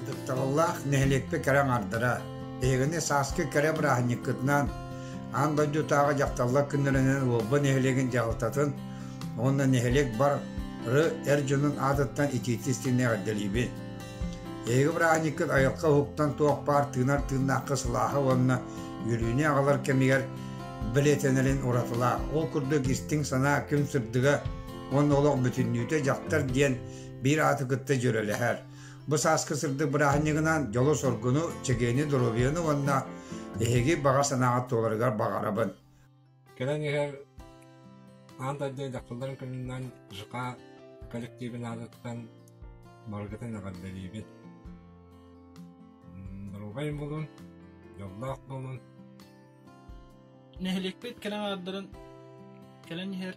Ытыктабыллаах нэһилиэкпэ кэрэ аҥардара, биһигини сааскы кэрэ бырааһынньыккытынаан аан дойдутааҕы дьахталлар күннэринэн Уолба нэһилиэгин дьаһалтатын уонна нэһилиэк бары эр дьонун аатыттан итиитик истиэнэ эҕэрдэлиибин. Эһиги бырааһынньыккыт айылҕа уһуктан туох баар тыынар тыыннаахха сылааһа уонна үөрүүнү аҕалар кэмигэр бэлиэтэнэрин уратылаах. Ол курдук истиҥ санаа күн сырдыга уонна олох бүтүннүүтэ дьахтар диэн биир ааты кытта дьүрэлэһэр. Бу сааскы сырдык бырааһынньыгынан дьолу-соргуну, чэгиэни, доруобуйаны уонна эһиги баҕа санааҕыт туоларыгар баҕарабын. Кэлэн иһэр аан дойду дьахталларын кынынан ЖК коллективын аатыттан барыгытын эҕэрдэлиибит. Доруобай буолун, дьоллоох буолун. Нэһилиэкпит кэлэн аардарын кэлэн иһэр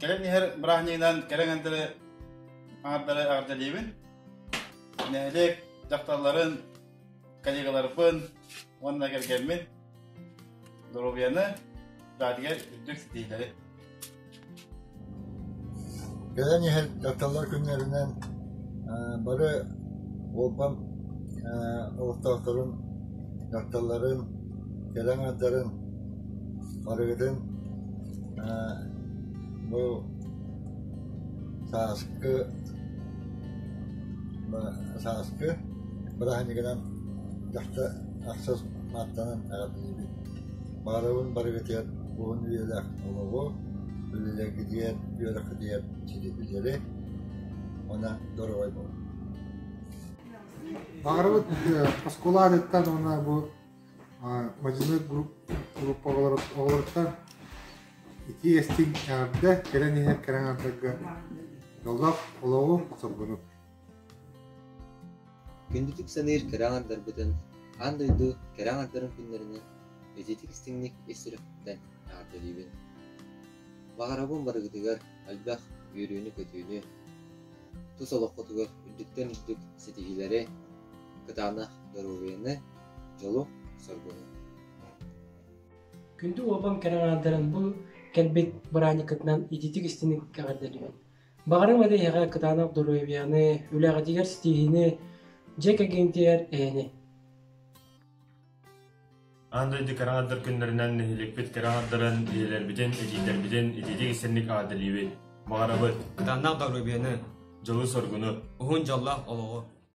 Кэлэн иһэр бырааһынньыгынан кэлэн эндere аардары аардалиибин. Нэһилиэк дьахталларын, коллегаларбын уонна кэргэммин Доруобуйаны бэҕэтигэр үрдүк ситиһиилэри! Кэлэн иһэр дьахталлар күннэринэн бары уопам олохтоохторун, дьахталларын, кэлэн ардарын барыгытын бу сааскы сааскы бырааһынньыгынан дьахта Ахсыс Мартанан эҕэрдэлиибин. Баҕарабын барыгытыгар уһун үйэлээх олоҕу, үлэлэргитигэр, үөрэххитигэр дьири уонна дорогой буолун. Баҕарабыт оскуолаһыттан уонна бу мадьынай группа оҕолоруттан ити эстиҥ эҕэрдэ, кэлэн иһэр кэрэҥ ардарга дьоллоох олоҕу, соргуну. Күндүтүк саныыр кэрэ аҥардарбытын аан дойду кэрэ аҥардарын күннэринэн ититик истиҥник ис сүрэхпиттэн эҕэрдэлиибин. Баҕарабын барыгытыгар элбэх үөрүүнү-көтүүнү, тус олоххутугар үрдүктэн үрдүк ситиһиилэри, кытаанах доруобуйаны, дьолу-соргуну. Күндү уолбам кэрэ аҥаардарын бу кэлбит бырааниккытынан ититик истиҥник эҕэрдэлиибин. Баҕарым эрэ эһиэхэ кытаанах доруобуйаны, үлэҕитигэр ситиһиини, дьиэ кэргэнтигэр эһэни. Аан дойду кыра аҥардар күннэринэн нэһилиэкпит кыра аҥардарын ийэлэрбитин, илиитэрбитин ититик истинник аадырыйабыт. Баҕарабыт. Кытаанах доруобуйаны, дьолу-соргуну, уһун дьоллоох олоҕу.